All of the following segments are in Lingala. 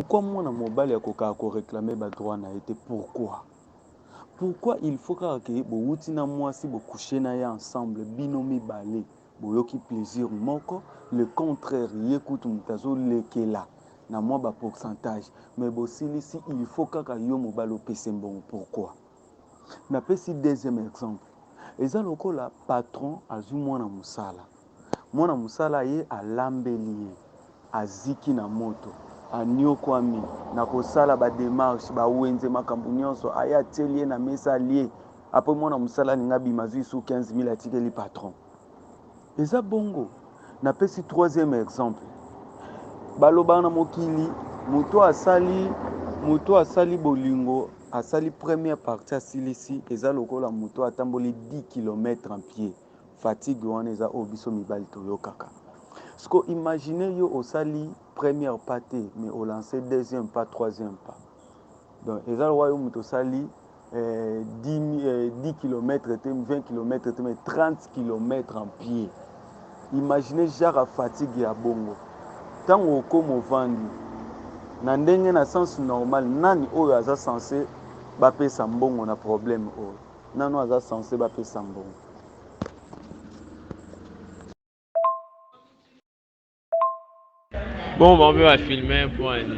Pourquoi mwana mobali akokaka ko reclamer ba droits na ye te pourquoi? Pourquoi il faut kaka ke bowuti na mwasi bo coucher na ye ensemble bino mibale boyoki plaisir moko le contraire ye kutu moto azo lekela na mwa ba pourcentage mais bosilisi il faut kaka yo mobali opese mbongo pourquoi? Napesi deuxième exemple eza lokola patron azwi mwana mosala Mwana mosala ye alambeli ye, aziki na moto, aniokwami na kosala ba demarches, ba wenze, makambo nionso, aye atieli ye na mesa alie, apres mwana mosala alingi abima azui lisusu 15000 atikeli patron. Eza bongo. Napesi troisieme exemple, balobaka na mokili moto oyo asali, moto oyo asali bolingo, asali première partie asilisi, eza lokola moto oyo atamboli 10 kilomètre en pied. Fatigue wana eza oyo biso mibali toyokaka. Sikoyo imaginer yo osali première pas te mais o lancer deuxième pas, troisième pas. Donc eza lokola yo moto osali eh, 10, eh, 10 km te, 20 km te mais 30 km en pied. Imaginer genre ya fatigue ya bongo. Ntango okoma ovandi na ndenge na sens normal, nani oyo aza sense bapesa mbongo na problème oyo? Nanu aza sense ba pesa mbongo. Bon bon ba filmer point.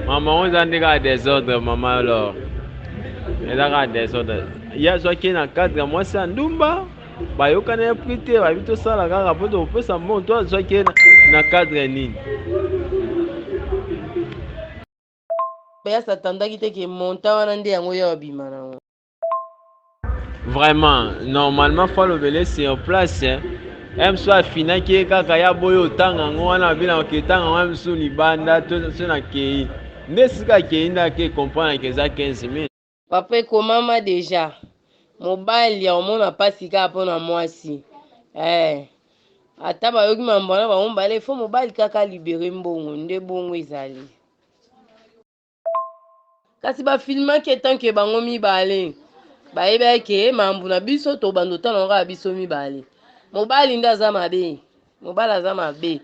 Maman oza nde ka desordre maman alors. Eza ka desordre. Ya zwa ke na cadre mwasi ya ndumba bayokana ya prix te bayebi tosala kaka mpo tokopesa mbongo to azwaki na cadre nini ya s'attendaki te ke montant wana nde yango ya obima nango vraiment normalement faut alobele sur place hein. mso afinaki ye kaka ya boye otanga yango wana abinaka ketanga yango mso libanda to so nakei nde esika akei nde ake comprendre ke eza 15 000 Papa ekomama deja mobali akomona pasi kaka mpo na mwasi eh. Ata bayoki mambo wana bango mibale fo mobali kaka libere mbongo nde bongo ezali. Kasi bafilmaki etanke bango mibale bayebaki ke mambo na biso tobanda otala yango kaka biso mibale mobali nde aza mabe mobali aza mabe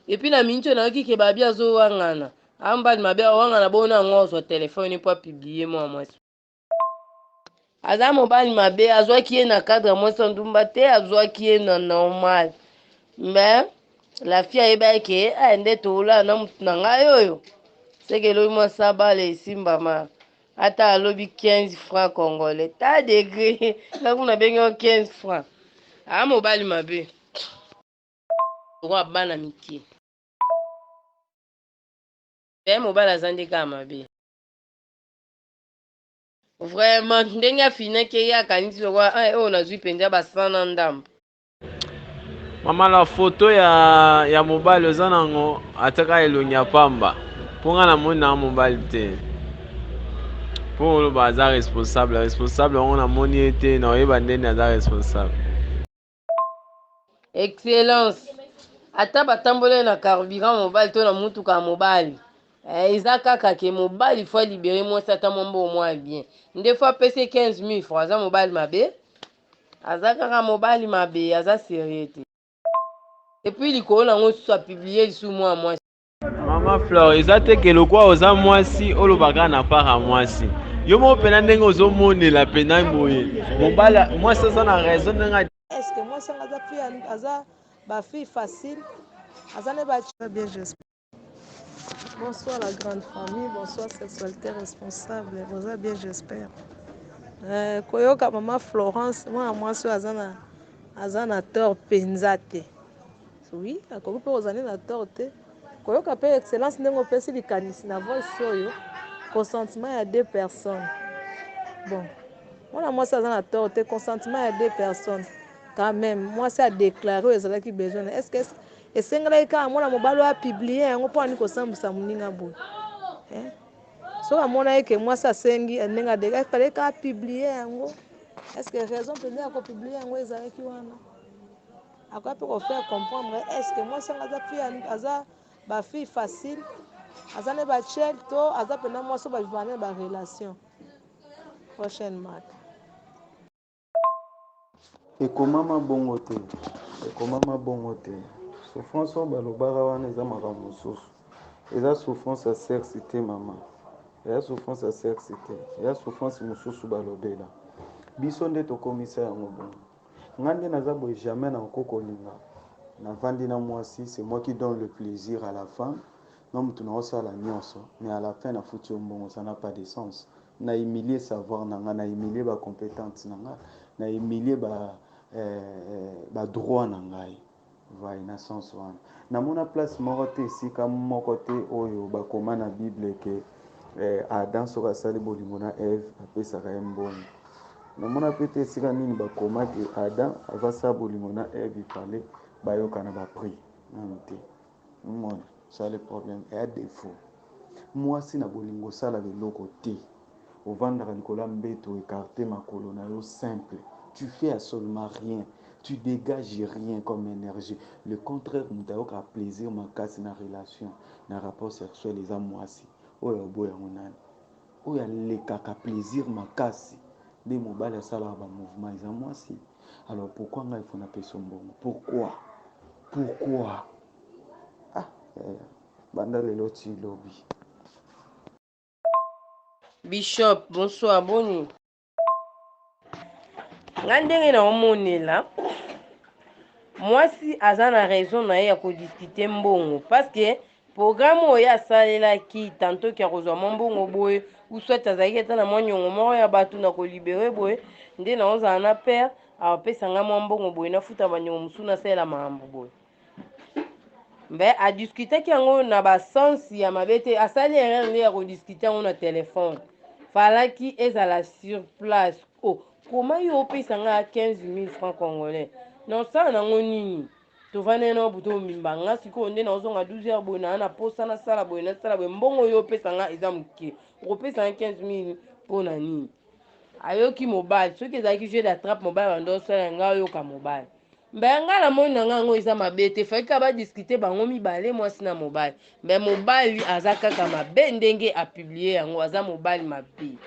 epuis na miniti oyo nayoki ke babi azowangana Ambali mabe awangana bona yango azwa telefone mpo apiblie mwana mwasi. Aza mobali mabe azwaki ye na cadre ya mwasi ya ndumba te azwaki ye na normal mais la fille ayebaki ke eh, nde toolaa na motu na ngai oyo seke elobi mwa sabale esimbama ata alobi 15 franc congolais ta degre nga kuna benge 15 franc aa mobali mabe lokola bana mike eh mobali aza nde kaka mabe vraiment ndenge afinaki ye akanisi lokola eh, oyo nazwi mpenza basana ndambo mama la foto ya, ya mobali oza nango ataka elongi ya pamba mpo ngai namoni nanga mobali te mpo oloba aza responsable responsable yango namoni ye te naoyeba ndeni aza responsable excellence ata batambolaki na carburant mobali to na motuka ya mobali eh, eza kaka ke mobali fo alibere mwasi ata mwa mbongo mwa bien nde fo apesi 15 000 francs aza mobali mabe aza kaka mobali mabe aza serieux te epuis likolo nango lisusu apiblie lisusu mwana mwasi mama flore eza te ke lokwa oza mwasi olobaka na para mwasi yo moko mpena ndenge ozomonela mpena boye mobala mwasi aza na raison ndenge eske mwasi yango aza fi aza bafille facile aza ne bien j'espère bonsoir la grande famille bonsoir sexualité responsable boza bien j'espère euh, koyoka mama florence mwana mwasi oyo aza na aza na tort mpenza te Oui, akoki mpe kozala nde na tort te. Koyoka mpe excellence ndenge opesi likanisi na voice oyo, consentement ya deux personnes. Bon, mwana mwasi aza na tort te, consentement ya deux personnes. Quand même, mwasi a déclaré oyo ezalaki besoin. Est-ce que esengelaki kaka mwana mobali oyo apublie yango mpo ani kosambwisa moninga boye? Eh? soki amonaki ke mwasi asengi eh, ndenge adeka efale ka publie yango estce raison mpenza ya kopublie yango ezalaki wana Akoya pe ko faire comprendre est ce que mwasi yango aza fille aza ba fille facile aza ne ba chel to aza pena mwasi oyo ba vivaka ne ba relation prochaine marque ekomama bongo te ekomama bongo te souffrance oyo balobaka wana eza makambo mosusu eza souffrance ya sexe te mama eza souffrance ya sexe te eza souffrance mosusu balobela biso nde tokomisa yango bongo Nga nde naza boye jamais na ko kolinga na vandi na mwasi c'est moi qui donne le plaisir à la fin nga mutu nao sala nionso mais à la fin na futi yo mbongo ça n'a pas de sens na humilie savoir na nga na humilie ba competentes na nga na humilie ba eh, ba droits na ngai Vai na sens wana. Namona place moko te, esika moko te oyo bakoma na Bible ke eh, Adam soki asali bolingo na Eve apesaka ye mbongo. Namona pe te esika nini bakoma ke Adam aza sa bolingo na Eve ifale bayokana ba prix. Nanu te. omoni ça le problème eya defaut mwasi na bolingo osalaka eloko te ovandaka likolo ya mbeto ekarte makolo na yo simple tu fais absolument rien tu dégages rien comme énergie le contraire moto ayokaka plaisir makasi na relation na rapport sexuel eza mwasi oyo oboya yango nani Oyo alekaka plaisir makasi nde mobali asalaka ba mouvement eza mwasi alors pourquoi ngai faut na peso mbongo pourquoi pourquoi ah yaya banda lelo ti lobi. Bishop bonsoir boni. nga ndenge na omonela mwasi aza na raison na ye ya kodiskite mbongo parceke programme oyo ye asalelaki tantoki ya kozwa mwa mbongo boye uswat azalaki ata na mwa nyongo moko ya bato na kolibere boye nde naozala na pere apesa ngai mwa mbongo boye nafuta banyongo mosusu nasalela mambo boye mais adiskutaki yango na basens ya mabe te asali erreur nde ya kodiskute yango na telefone falaki ezala sur place o oh, koma yo opesa nga 15000 francs congolais naosala nango nini tovandai na buto omimba nga sikoyo nde naozonga 12 heure boye naa na posa nasala boye nasala boye mbongo oyo opesa nga eza moke okopesa nga 15000 mpo na nini ayoki mobali soki ezalaki jeu d'attrape mobali bando osala nga oyoka mobali Mbe nga na moni na nga yango eza mabe te fai kaka ba discuter bango mibale mwasi na mobali mbe mobali aza kaka mabe ndenge a publier yango aza mobali mabe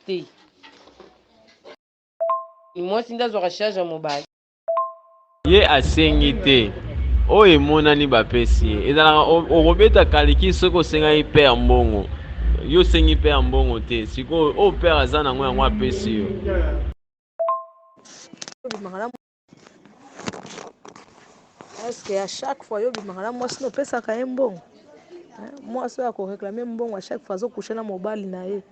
te mwasi nde azwaka charge ya mobali ye asengi te oyo emonani bapesi ye ezalaka okobeta kaliki soki osengaki père mbongo yo osengi père mbongo te sikoyo oyo père aza nango yango apesi yo eske ya chaque fois yo bimaka na mwasi nopesaka ye mbongo mwasi oyo akoreklame mbongo a chaque fois azokushe na mobali na ye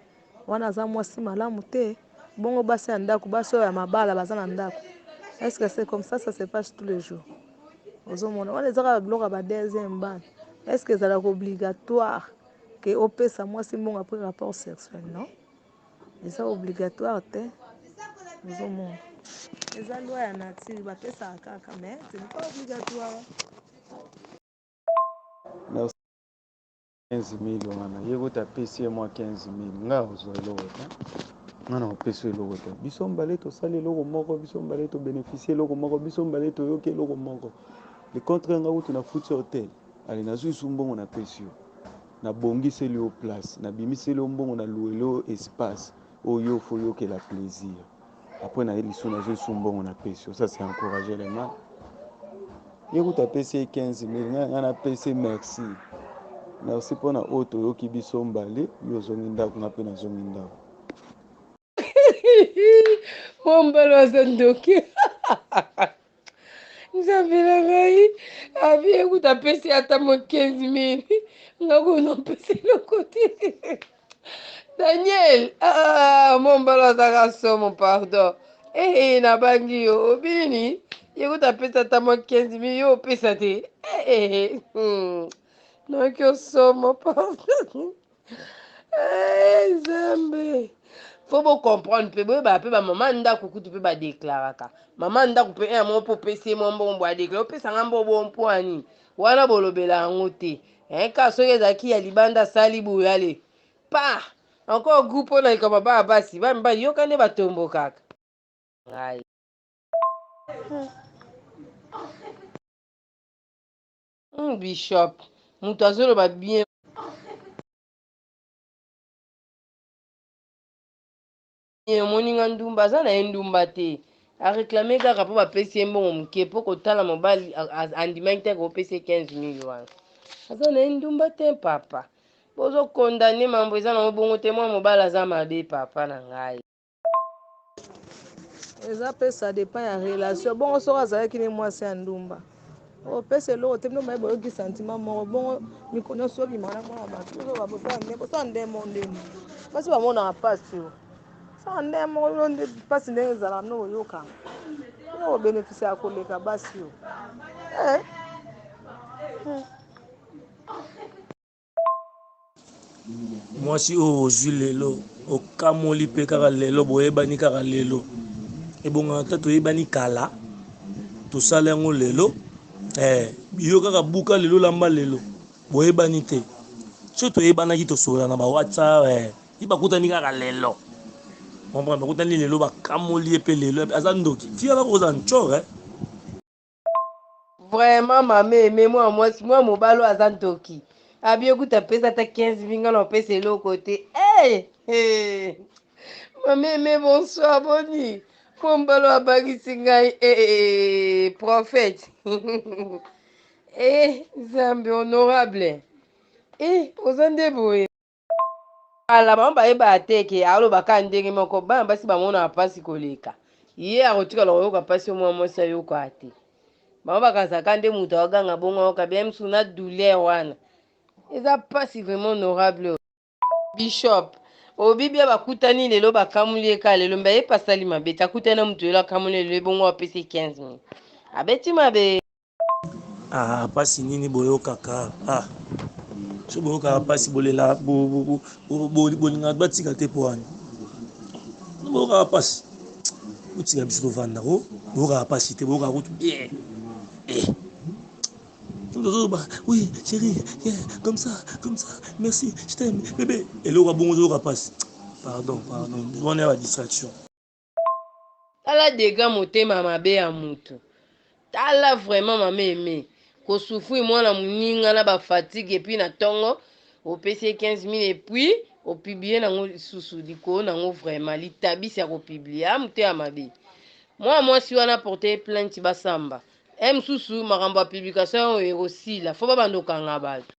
wana aza mwasi malamu te bongo basi ya ndako basi oyo ya mabala baza na ndako eske se comme ça ça se passe tous les jours ozomona wana eza kaka biloko ya ba deuxième bana eske ezalaka obligatoire ke opesa mwasi mbongo après rapport sexuel non Eza obligatoire te ozo mona. Eza loi ya nature ba pesaka kaka mais ce n'est pas obligatoire. Merci. 15 mille wana ye kutu apesi ye mwa 15 mille ngai akozwa eloko te ngai nakopesa eloko te biso mbale tosali eloko moko biso mbale tobénéficie eloko moko biso mbale toyoki eloko moko le contre ngai kutu nafuti hotel ale nazwi su mbongo napesi yo Na bongiseli yo place, na bimiseli yo mbongo, na loueli yo espace oyo yo faut yokela plaisir. Après na ye lisu na zui su mbongo na pesi yo. Ça c'est encourager le mal. Ye kutu apesi ye 15 000, nga nga na pesi merci. Merci pona oyo toyoki biso mbale, yo ozongi ndaku nga pe nazongi ndaku. mombalo aza ndoki nzambe na ngai abi ekuta apesi ata mo 15 mili nga kuna mpesi eloko te daniel ah, mombalo azaka somo pardon ee eh, eh, nabangi yo obini yekuta apesi ata mo 15 mili yo opesa te ee eh, hmm. noki osomo pardon Eh, nzambe fo bocomprendre mpe boyebaka mpe bamama ya ndako kutu mpe badeklaraka mama ya ndako mpe eh, ya moko mpo opesi ye mwa mbongo boadeklara opesa nga mbo bo mpo ya nini wana bolobela yango te eh, kaka soki ezalaki ya libanda asali boye ale pa encore groupe mpo na likambo bana basi bana mibali yoka nde batombokaka ngai Hum, bishop moto azoloba bien omoni nga ndumba aza na ye ndumba te areklame kaka mpo bapesi ye mbongo moke mpo kotala mobali andimaki te kopesa ye 15 mil wana aza na ye ndumba te papa bozokondane mambo eza na mobongo te mwa mobali aza mabe papa na ngai eza pe ça dépend ya relation bongo soki azalaki ne mwasi ya ndumba opesa oh, eloko te bino maye boyoki sentiment moko bongo mikolo nyonso obima na mwana bato ozobabosana nde kosala nde mo ndeni basi bamonaka mpasi yo sala nde moko yo nde mpasi ndenge ezala no oyokanga yo obénéfice ya koleka basi yo eh. hmm. mwasi oyo ozwi lelo okamoli mpe kaka lelo boyebani kaka lelo ebongaka ata toyebani kala tosala yango lelo eh, yo kaka buka lelo lamba lelo boyebani te so toyebanaki tosolola na bawhatsapp eh, ye bakutani kaka lelo comprendre bakutani lelo bakamoli ye mpe lelo aza ndoki tia bakoza ncor eh. Vraiment ma mère mais mwa mwasi mwa mobali oyo aza ndoki abie kuta apesa ata 15 minga na opesa eloko te hey! hey! ma meme bonsoir boni mpo mbalo abangisi ngai hey! Eh, eh, eh, prophète eh, nzambe honorable eh, oza nde boye kala bango bayebaka te ke aloba kaka ndenge moko bana basi bamonaka mpasi koleka ye akotikala koyoka mpasi yo mwana mwasi ayokaka te bango bakanisaka nde moto aoganga bongo ayoka bien mosusu na douleur wana eza mpasi vraiment honorable bishop obibia bakutani lelo bakamuli ye kaka lelo mbe ayepasali mabe te akutani na moto lelo akamuli lelo ebongo apesi 15 000 abeti mabe Ah, pasi nini boyokaka? Ah, so boyokaka pasi bolela bolingaka batika te po wana boyokaka pasi botika biso tovanda ko boyokaka pasi te boyokaka kutu bien eh. oui chérie yeah, comme ça comme ça merci je t'aime bébé eloko abongo ozoyoka pasi pardon pardon wana ya badistraction Tala degat motema mabe ya mutu. Tala vraiment mama aime ko souffrir mwana muninga na ba fatigue et puis na tongo opesi ye 15000 et puis opublie nango lisusu likolo nango vraiment litabisi ya kopublie a ah, moto ya mabe mwana mwasi wana porte ye plainte basamba e eh, mosusu makambo ya publication oyo ekosila fo babanda okanga bato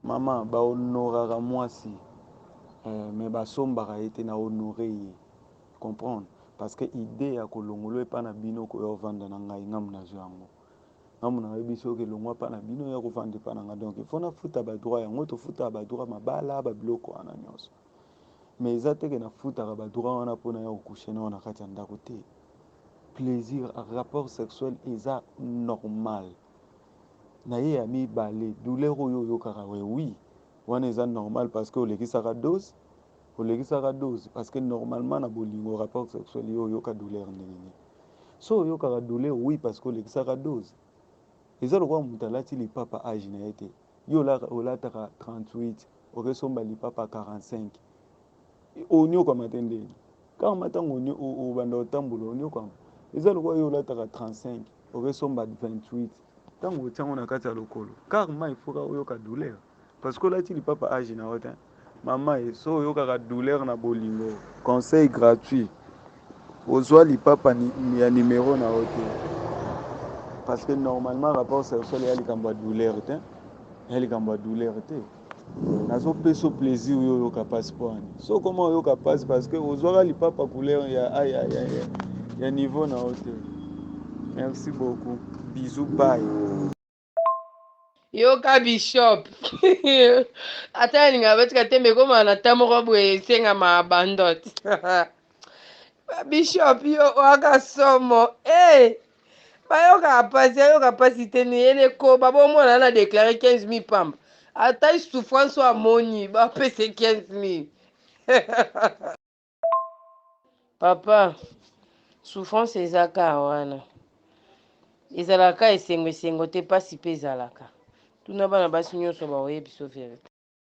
Maman ba honoraka muasi eh, mais basombaka ye te na honore ye comprendre parce que idee ya kolongolo epa na bino koya ovanda na ngai ngamu nazwa yango ngamu na yebi soki elongwa pa na bino ya kovanda epa na ngai donc il faut nafuta ba droit yango tofutaka ba droit mabala ba biloko wana nyonso mais eza te ke nafutaka ba droit wana mpo na ya kokushe na yo na kati ya ndako te plaisir rapport sexuel eza normal na ye ya mibale douleur oyo oyokaka we oui wana eza normal parce que olekisaka dose olekisaka dose parce que normalement na bolingo rapport sexuel yo oyoka douleur ndenge nini so oyokaka douleur oui parce que olekisaka dose eza lokola moto alati lipapa age na ye te yo olataka 38 okesomba lipapa 45 Onyokwama te ndenge kaka ma ntango obanda kotambola onyokwama eza lokola yo olataka 35 okesomba 28 ntango otya yango na kati ya lokolo kaka ma ifoka oyoka douleur parce que olati lipapa age na yo te mama ye so oyokaka douleur na bolingo conseil gratuit Ozua lipapa ya numero na yo te parce que normalement rapport sexuel ya likambo ya douleur te ya likambo ya douleur te nazopesa plaisir yo oyoka mpasi mpo ani so okoma oyoka mpasi parce que ozwaka lipapa couleur ya, ya, ya, ya, ya, ya niveau na yo te merci beaucoup bisou bye yoka bishop ata alinga batika tembe ekoma na ta moko boye esengama abandot bishop yo waka somo hey! Eh! bayoka mpasi ayoka mpasi te neyeli ekoba bomona na deklare 15 000 pamba ata souffrance oyo amoni bapese 15 000 Papa, souffrance eza ka wana. Ezalaka ka esengo esengo te, pasi pe ezalaka. Tuna bana basi nionso baoyebi so verite.